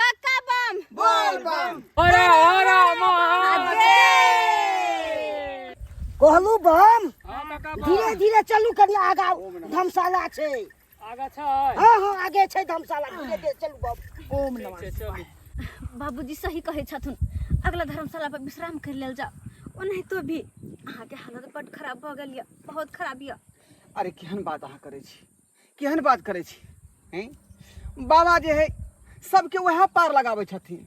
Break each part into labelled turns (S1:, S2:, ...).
S1: काका बम बोल बम हरा हरा महादेव
S2: कहलू बम हाँ काका बम धीरे धीरे चलू कनी आगा धमशाला छै आगा छै
S3: हाँ हाँ आगे
S2: छै धमशाला धीरे धीरे चलू बम ओम ठीक छै चलू बाबूजी
S4: सही कहै छथुन अगला धर्मशाला पर विश्राम कर लेल जाओ ओनाहितो भी अहाँके हालत बड खराब भऽ गेल यऽ बहुत खराब यऽ अरे केहन बात
S5: अहाँ करै छी केहन बात करै छी हैं बाबा जे है सबके वएह पार लगाबै छथिन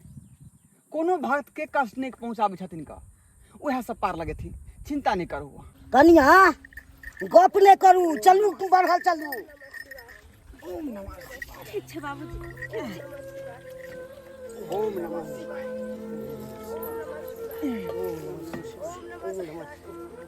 S5: कोनो भक्तके कष्ट नहि पहुँचाबै छथिन का वएह सब पार लगेथिन चिंता नहि करू अहाँ। कनिया
S2: गप नहि करू चलू तू बढ़ल चलू
S4: ठीक छै बाबूजी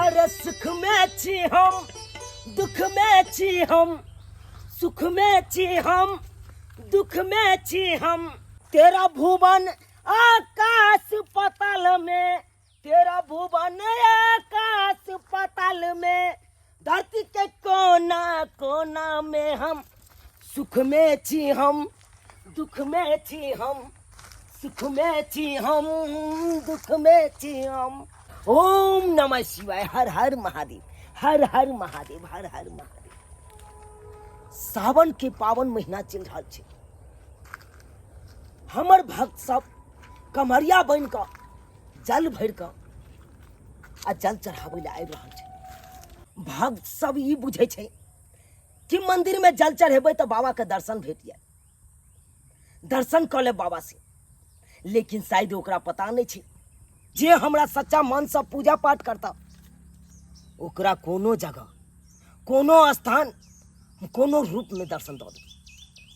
S1: अरे सुख
S2: में छी हम दुख में छी हम सुख में छी हम दुख में छी हम तेरा भुवन आकाश पताल में तेरा भुवन आकाश पताल में धरती के कोना कोना में हम सुख में छी हम दुख में छी हम सुख में छी हम दुख में छी हम ओम नमः शिवाय हर हर महादेव हर हर महादेव हर हर महादेव सावन के पावन महीना चल रहा है हमर भक्त सब कमरिया बन का जल भर का आ जल चढ़ावे ला आबि रहा है भक्त सब ई बुझे छै कि मंदिर में जल चढ़ेबे तो बाबा के दर्शन भेट जाए दर्शन कर ले बाबा से लेकिन शायद ओकरा पता नहीं छे जे हमरा सच्चा मन से पूजा पाठ करता ओकरा कोनो जगह कोनो स्थान कोनो रूप में दर्शन दो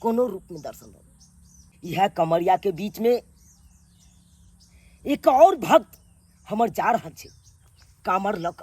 S2: कोनो रूप में दर्शन दो यह कमरिया के बीच में एक और भक्त हमर जा रहा छे कामर लक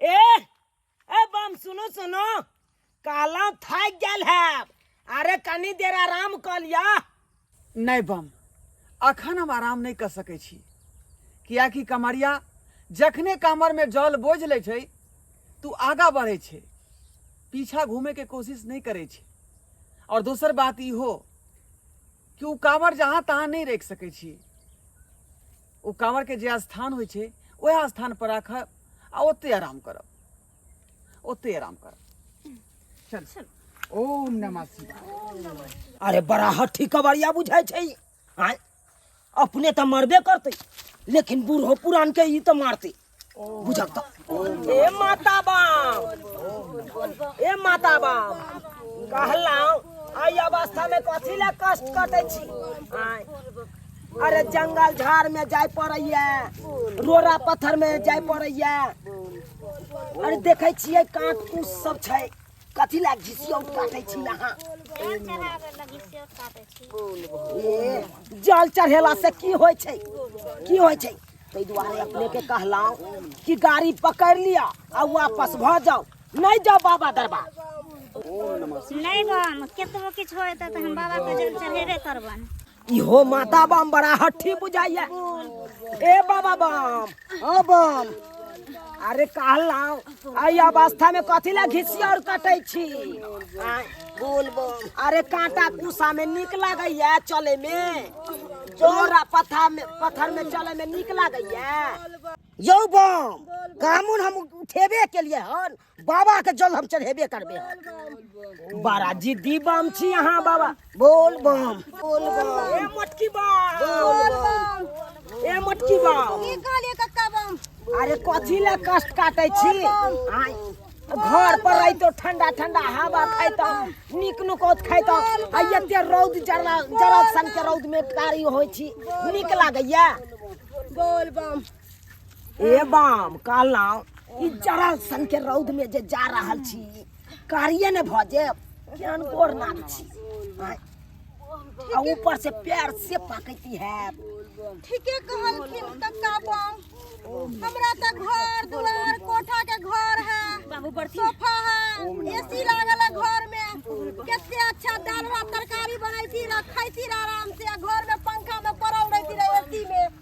S2: ए ए बम सुनो सुनो काला थक गेल है अरे कनी देर आराम कर लिया नहीं
S5: बम अखन हम आराम नहीं कर सके छी कियाकि कमरिया जखने कमर में जल बोझ ले छै तू आगा बढ़े छै पीछा घूमे के कोशिश नहीं करे छै और दोसर बात ई हो कि उ कामर जहाँ तहाँ नहीं रख सके छी ओ काँवरके जे स्थान होइ छै ओएह स्थानपर राखब आ ओतहि आराम करब ओतहि आराम करब चल चल ओम नमः शिवाय अरे बड़ा
S2: हठी कबड़िया बुझाइ छै ई। आँय अपने तऽ मरबे करतै लेकिन बूढ़ो पुरानके ई तऽ मारतै ए माता बाम ए माता बाम कहलहुँ एहि अवस्थामे कथी लए कष्ट कटै छी आँय, अरे जंगल झाड़ में जाय पड़ैया रोड़ा पत्थर में जाय पड़ैया अरे देखै छियै काँट कूस सब छै कथी ला घिसियौत काटै छी अहाँ जल चढ़ा के लगी से काटे छी ए, जल चढ़ेला से की होइ छै की होइ छै ताहि दुआरे अपने के कहलहुँ कि गाड़ी पकड़ लिअ आ वापस भऽ जाउ नहि जाउ बाबा दरबार नहीं बम
S3: केतबो किछु होए त हम बाबा के जल चढ़ेबे करबन इहो माता
S2: बम बड़ा हठी बुझाइया ए बाबा बम हाँ बम अरे कहलहुँ एहि अवस्था में कथी ला घिसी और कटै छी आँय, बोल बम अरे कांटा कुसा में नीक लागैया चले में जोरा पत्थर में पत्थर में चले में नीक लागैया यौ बम कामुन हम उठेबे केलिए हन बाबा के जल हम चढ़ेबे करबे हम। बड़ा जिद्दी बम छी अहाँ बाबा बोल बम बोल बम ए मोटकी बम बोल बम ए मोटकी बम की कहलिए कक्का
S4: बम अरे कथी ले
S2: कष्ट काटे छी आय, घर पर रहितो ठंडा ठंडा हवा खाइतो नीक नुकोत खाइतो आ एते रौद जरा जरा सन के रौद में कारी होइ छी नीक लागैया बोल बम ए बाम कहलहुँ ई जरा सन के रौद में जे जा रहल छी कारिये ने भऽ जायब केहन गोर नाग छी आँय। आ ऊपर से पैर से पकैती है ठीके
S4: कहलखिन कक्का बम हमरा त घर दुआर कोठा के घर है बाबू बर्ती सोफा
S3: है
S4: एसी लागल है घर में कते अच्छा दाल भात तरकारी बनैती रखैती रह आराम से आ घर में पंखा में पड़ल रहती रह एसी में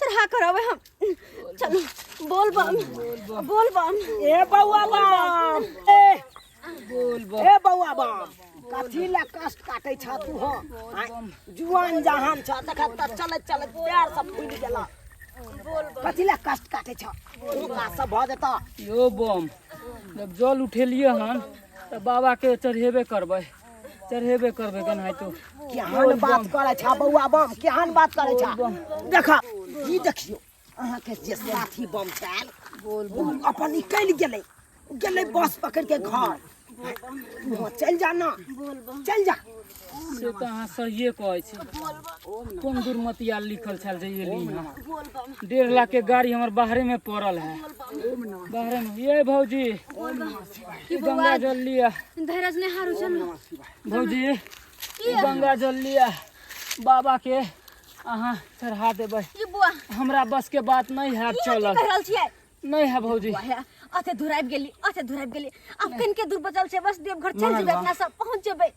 S4: चल हाँ करो अबे हम चल बोल बम बोल बम ए बउआ
S2: बम ए बोल बम ए बउआ बम कथी ला कष्ट काटे छ तू हो आय, जुआन जहान छ देख त चलत चलत पैर सब फूल गेला कथी ला कष्ट काटे छ तू का सब भ जेता यो बम
S1: जब जल उठेलिए हन तऽ बाबाके चढ़ेबे करबै चढ़ेबे करबे केनाहितो केहन बात
S2: करै छा बौआ बम केहन बात करै छा देखा ई देखियो अहाँ के जे साथी बम छल बोल बम अपन निकल गेलै गेलै बस पकड़ के घर वहाँ चल जा ना चल जा
S1: से तऽ अहाँ सहिए कहै छी कोन दुर्मतिया लिखल छल जे ये ली हाँ। डेढ़ लाख के गाड़ी हमर बाहरे में पड़ल है बाहरे में ये भौजी ई गंगा जल लिया धीरज ने हारू
S4: चल भौजी
S1: ई गंगा जल लिया बाबा के अहाँ चढ़ा देबै ई बुआ हमरा
S4: बस के बात
S1: नहीं है की चलल कह रहल छियै
S4: नहीं है भौजी
S1: वाह, अते दूर आबि
S4: गेली अते दूर आबि गेली आब कनिके दूर बचल छै बस देवघर चल जेबै अपना सब पहुंच जेबै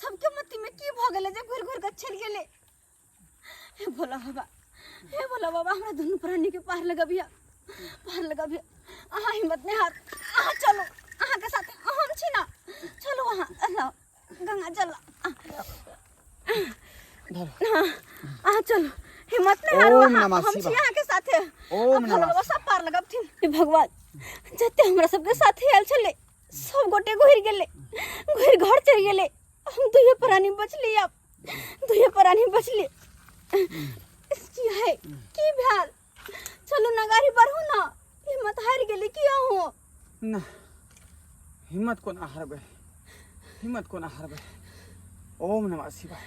S4: सबके मति में की भऽ गेलै जे घुरि घुरि कऽ चलि गेलै हे भोला बाबा हे भोला बाबा हमरा दुनू प्राणी के पार लगबिया पार लगबिया अहाँ हिम्मत नहि हार अहाँ चलू अहाँके साथ हम छी ना चलू अहाँ अहाँ, गंगा चल अहाँ चलू हिम्मत नहि हारू ओम अहाँ नमः हम छी शिवाय। अहाँके
S5: साथे
S4: ओम अब भोला नमः बाबा
S5: सब पार
S4: लगबथिन हे भगवान जते हमरा सबके साथे आयल छलै सब गोटे घुर गेले घुर घर चल गेले हम दुए प्राणी बचली अब दुए प्राणी बचली की है की भेल चलू ना गाड़ी बढ़ू ना हिम्मत हार गेली की अहो ना
S5: हिम्मत कोना हारबे हिम्मत कोना हारबे ओम नमः शिवाय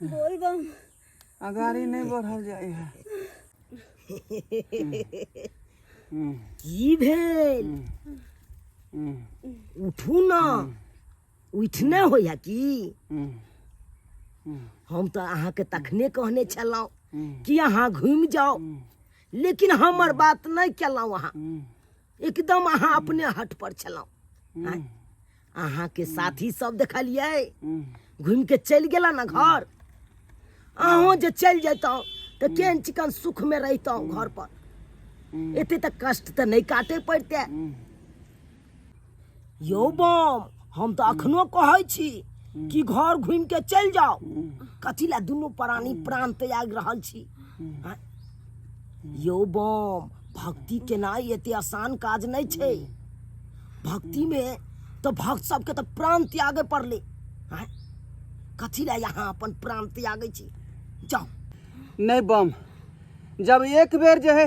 S4: बोल बम अगाड़ी
S5: नहीं बढ़ल जाए है हम्म,
S2: की भेल हम्म, हम्म, उठू न उठने होइया की हम्म, हम्म, हम तऽ अहाँके तखने कहने छलहुँ हम्म, कि अहाँ घुमि जाउ हम्म, लेकिन हमर बात नहि केलहुँ अहाँ हम्म। एकदम अहाँ अपने हट पर छलहुँ हम्म, आँय? अहाँके साथी सब देखलियै हम्म, घुमि के चलि गेला ने घर अहूँ जे चलि जैतहुँ तऽ केहन चिकन सुखमे रहितहुँ घर पर हम्म, एते तऽ कष्ट तऽ नहि काटे पड़ते हम्म। यौ बम हम तऽ अखनो कहै छी कि घर घुमि के चलि जाउ कथी लए दुनू प्राणी प्राण त्याग रहल छी आँय? यौ बम भक्ति केनाइ एते आसान काज नहि छै भक्ति मे तऽ भक्त सबके तऽ प्राण त्यागे पड़लै आँय? कथी लए यहाँ अपन प्राण त्यागै छी जाउ नहि
S5: बम जब एक बेर जे है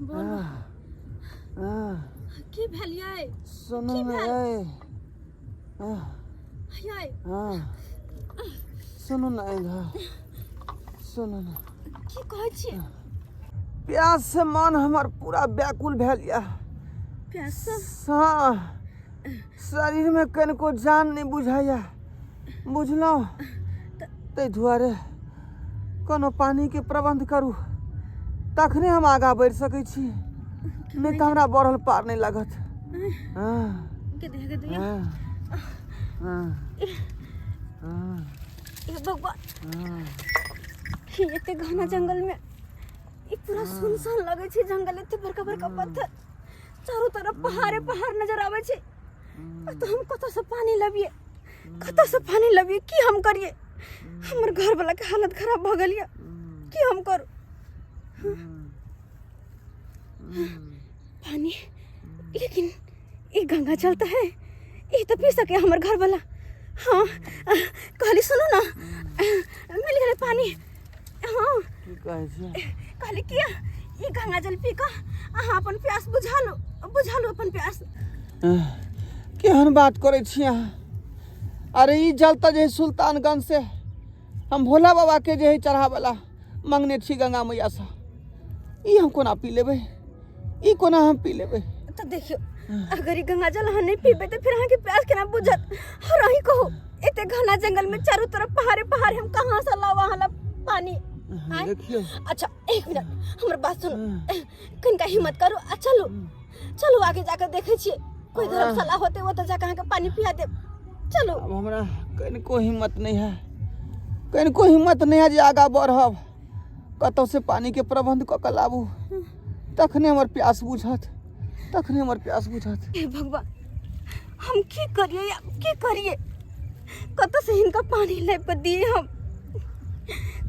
S4: बोल आह, आह, की भेल यै सुनू की ने
S5: भेल? यै
S4: आह,
S5: यै आह, सुनू ने इधर सुनू ने की कहै छियै
S4: प्यास
S5: से मन हमर पूरा व्याकुल भेल यऽ प्यास
S4: सँ सा-
S5: शरीरमे कनिको जान नहि बुझाइए बुझलहुँ ताहि दुआरे कोनो पानिके प्रबन्ध करू तखने हम आगाँ बढ़ि सकै छी नहि तऽ हमरा बढ़ल पार नहि लागत हँ हँ हँ
S4: हँ
S5: हे
S4: भगवान हँ ई एते घना जंगल में ई पूरा सुनसान लगे छै जंगल एते बड़का बड़का पत्थर चारो तरफ पहाड़े पहाड़ नजर आवे छै तऽ हम कतऽसँ पानि लबियै कतऽसँ पानि लबियै की हम करियै हमर घरवलाके हालत खराब भऽ गेल यऽ की हम करू पानि लेकिन ई गंगा जल तऽ है ई तऽ पी सके हमर घरवला हँ कहली सुनू ने मिल गेलै पानि हँ की कहै छी
S5: कहली कि
S4: ई गंगा जल पी कऽ अहाँ अपन प्यास बुझा लो बुझा लो अपन प्यास एह,
S5: केहन बात करै छी अहाँ अरे ई जल तऽ जे है सुल्तानगंज से हम भोला बाबा के जे है चढ़ावला मंगने छी गंगा मैया से ई हम कोना पी लेबै ई कोना हम पी लेबै तऽ देखियौ
S4: अगर ई गंगा जल अहाँ नहि पीबै तऽ फेर अहाँके प्यास केना बुझत और अहीं कहू एते घना जंगल में चारू तरफ पहाड़े पहाड़ हम कहाँ से लाओ अहाँ ला पानी आँय? देखियौ अच्छा
S5: एक मिनट
S4: हमर बात सुनू कनिका हिम्मत करू आ चलू चलू आगे जाकर देखै छियै कोई हमरा- धर्मशाला होते ओतऽ जाकर अहाँके पानी पिया देब चलू अब हमरा
S5: कनिको हिम्मत नहि है कनिको हिम्मत नहि है जे आगाँ बढ़ब कतौसँ पानिके प्रबन्ध कऽ कऽ लाबू तखने हमर प्यास बुझत तखने हमर प्यास
S4: बुझत हे भगवान हम की करिए आब की करिए कतऽसँ हिनका पानि लाबि कऽ दिए हम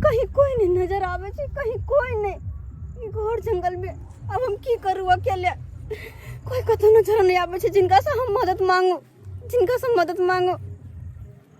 S4: कहीं कोइ नहि नजर आबै छै कहीं कोइ नहि ई घर जंगलमे आब हम की करू अकेले कोइ कतहु नजर नहि आबै छै जिनकासँ हम मदद मांगू जिनकासँ मदद मांगू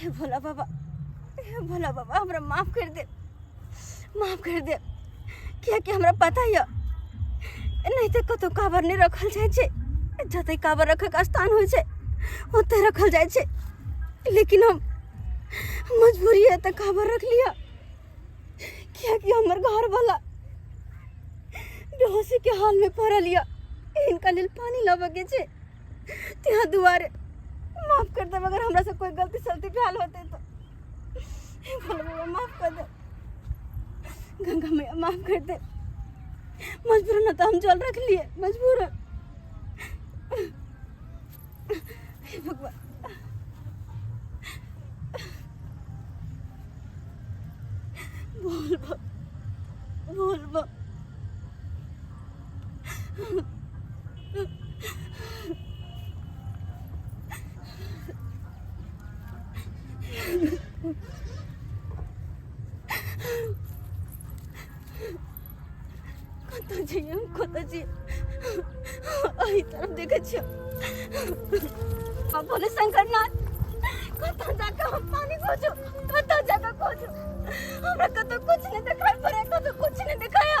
S4: हे भोला बाबा हे भोला बाबा हमरा माफ कर दे माफ कर दे कियाकि हमरा पता यऽ नहीं तो कतौ काबर नहीं रखल जाय छै जतै काबर रखक स्थान होइ छै ओतै रखल जाय छै लेकिन हम मजबूरी है तऽ काबर रख लिअ कियाकि हमर घरवला बेहोशी के हाल में पड़ल यऽ इनका लेल पानी लाबऽ के छै तेरा दुआरे माफ कर दे अगर हमरा से कोई गलती सलती भेल होते तो हे भोले बाबा माफ कर दे गंगा मैया माफ कर दे मजबूर न तो हम जल रख लिए मजबूर हे भगवान बोल बा बोल बा कतऽ जइए हम कतऽ जइए एहि तरफ देखै छियै अपन शंकरनाथ कतऽ जाकऽ हम पानी खोजू कतऽ जाकऽ खोजू हमरा कतऽ कुछ नहि देखाइ पड़ै कतऽ कुछ नहि देखाया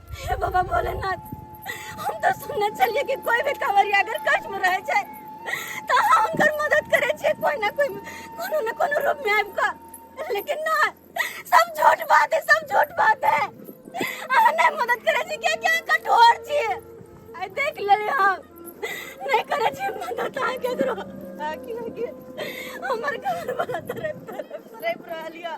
S4: हे बाबा भोलेनाथ हम तो सुनने चलिए कि कोई भी कांवरिया अगर कष्ट में रह जाए तो हम उनकर मदद करे छे कोई ना कोई कोनो ना कोनो रूप में आबि कऽ लेकिन ना सब झूठ बात है सब झूठ बात है अहाँ नहीं मदद करे छी क्या क्या कठोर छी आई देख ले हम नहीं करे छी मदद अहाँ केकरो आखिर आखिर हमर घर वाला तरफ तरफ रह रहलिया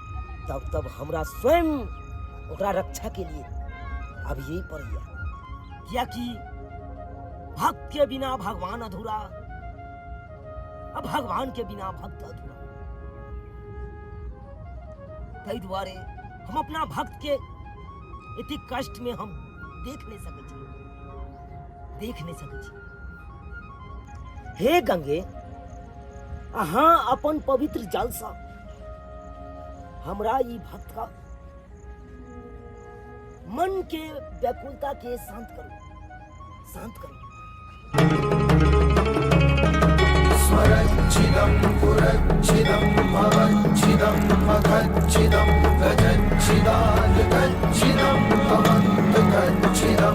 S2: तब तब हमरा स्वयं ओकरा रक्षा के लिए अब यही पर गया कियाकि भक्त के बिना भगवान अधूरा अब भगवान के बिना भक्त अधूरा ताहि दुआरे हम अपना भक्त के इति कष्ट में हम देख नहीं सकै छी देख नहीं सकै छी हे गंगे अहाँ अपन पवित्र जलसँ हमरा ई भक्ता मन के व्याकुलता के शांत
S6: करू शांत करू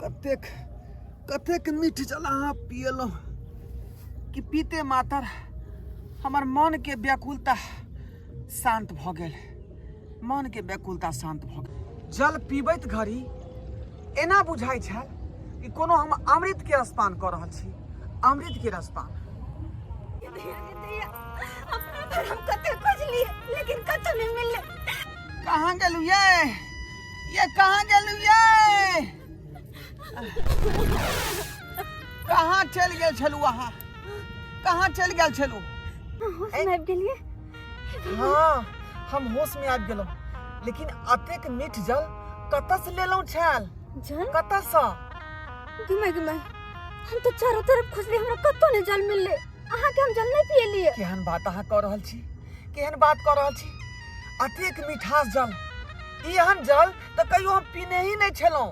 S5: कतेक कतेक मीठ जल अहाँ पियलहुँ कि पीते मातर हमर मनके व्याकुलता शान्त भऽ गेल मन के व्याकुलता शांत भऽ गेल जल पीबैत घड़ी एना बुझाइ छल कि कोनो हम अमृत के रसपान कऽ रहल छी अमृत के रसपान
S4: कहाँ
S5: गेलू ये ये कहाँ गेलू ये कहाँ चल गेल छलू अहाँ कहाँ चल गेल छलू होश में आबि
S4: गेलिए हाँ
S5: हम होश में आबि गेलहुँ लेकिन अतेक मीठ जल कतऽसँ लेलहुँ छायल जल कतऽसँ घुमाय
S4: घुमाय हम तो चारों तरफ खोजले हमरा कतौ नहीं जल मिलले अहाँ के हम जल नहीं पियलिए केहन बात अहाँ कऽ रहल
S5: छी केहन बात कऽ रहल छी अतेक मिठास जल एहन जल तऽ कहियो हम पीने ही नहि छलहुँ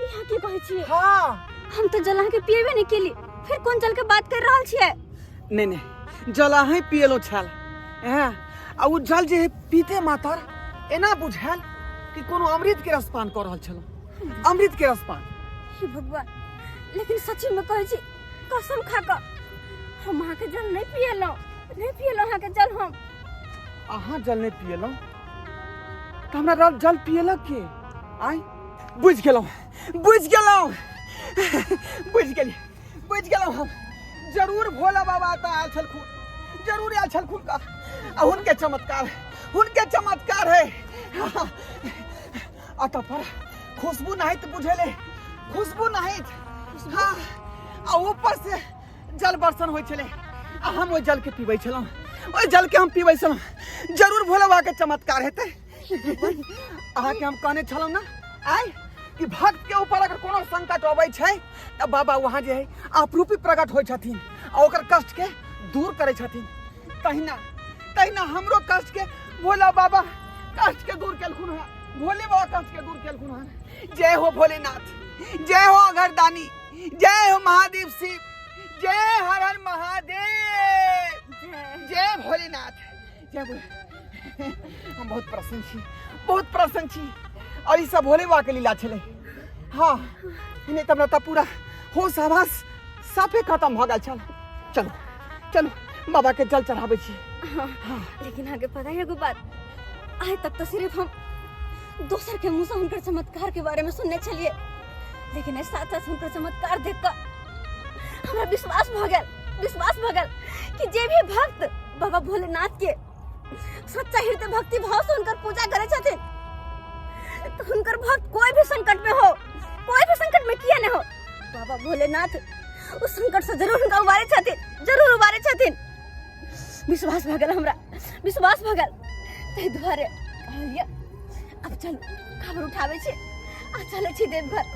S5: यहाँ के कहै
S4: छियै हाँ हम तो
S5: जल के
S4: पिएबे नहीं केली फिर कोन जल के बात कर रहल छियै नहीं नहीं
S5: जल अहीं पियलो छल हैं आ उ जल जे पीते मातर एना बुझायल कि कोनो अमृत के रसपान कर रहल छल अमृत के रसपान हे भगवान
S4: लेकिन सच्ची में कहै छी कसम खा क हम अहाँ के जल नहीं पिएलो नहीं पिएलो अहाँ के जल हम अहाँ
S5: जल नहीं पियलो तो हमरा जल पियलक के आई बुझि गेलहुँ बुझि गेलहुँ बुझि गेली बुझि गेलहुँ हम जरूर भोला बाबा एतऽ आयल छलखुन जरूर आयल छलखुन का आ हुनके चमत्कार हुनके चमत्कार है अतः पर खुशबू नहीं तो बुझेले खुशबू नहीं हाँ आ ऊपर से जल बर्षण होइ छलै आ हम ओहि जलके पीबै छलहुँ ओहि जलके हम पीबै छलहुँ जरूर भोला बाबाके चमत्कार हेतै अहाँके हम कहने छलहुँ ने आय कि भक्त के ऊपर अगर कोनो संकट अबै छै तऽ बाबा वहाँ जे है आपरूपी प्रकट होइ छथिन आ ओकर कष्ट के दूर करै छथिन तहिना तहिना हमरो कष्ट के भोला बाबा कष्ट के दूर केलखुन हँ भोले बाबा कष्ट के दूर केलखुन हँ जय हो भोलेनाथ जय हो अगरदानी जय हो महादेव शिव जय हर हर महादेव जय भोलेनाथ हम बहुत प्रसन्न छी बहुत प्रसन्न छी और ई सब भोले बाबा के लीला छलै हाँ इन्हें तब रहता पूरा होश आवास साफे खत्म भऽ गेल छल चलू चलू बाबा के जल चढ़ाबै छी लेकिन
S4: आगे पता है एगो बात आइ तक तो सिर्फ हम दोसर के मुंह से हुनकर चमत्कार के बारे में सुनने छलिए लेकिन एहि साथ साथ हुनकर चमत्कार देख कऽ हमरा विश्वास भऽ गेल विश्वास भगल कि जे भी भक्त बाबा भोलेनाथ के सच्चा हृदय भक्ति भाव से उनकर पूजा करे छथिन तो उनकर भक्त कोई भी संकट में हो कोई भी संकट में किया न हो बाबा भोलेनाथ उस संकट से जरूर उनका उबारे छथिन जरूर उबारे छथिन विश्वास भगल हमरा विश्वास भगल ताहि दुआरे कहलियै अब चल खबर उठाबै छी आ चलै छी देवघर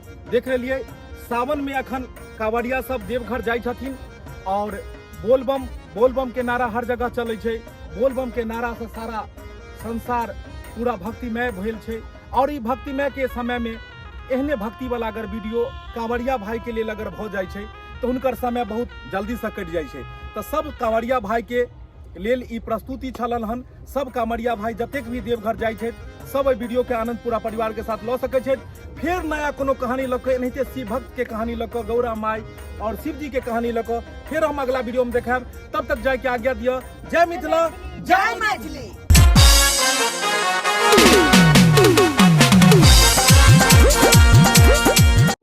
S7: देख रहिए सावन में अखन कांवरिया सब देवघर जाइ छथिन और बोलबम बोलबम के नारा हर जगह चलै छै बोलबम के नारा से सारा संसार पूरा भक्तिमय भेल छै और ई भक्तिमय के समय में एहने भक्ति वाला अगर वीडियो कांवरिया भाई के लेल अगर भऽ जाइ छै तऽ हुनकर समय बहुत जल्दी से कटि जाइ छै तऽ सब कांवरिया भाई के लेल ई प्रस्तुति छलन हन सब कामरिया भाई जतेक भी देवघर जाइ छथि सब एहि वीडियो के आनंद पूरा परिवार के साथ लऽ सकै छथि फेर नया कोनो कहानी लऽ कऽ एनाहिते शिव भक्त के कहानी लऽ कऽ गौरा माई और शिव जी के कहानी लऽ कऽ फेर हम अगला वीडियो में देखायब तब तक जाय के आज्ञा दिअ जय मिथिला जय मैथिली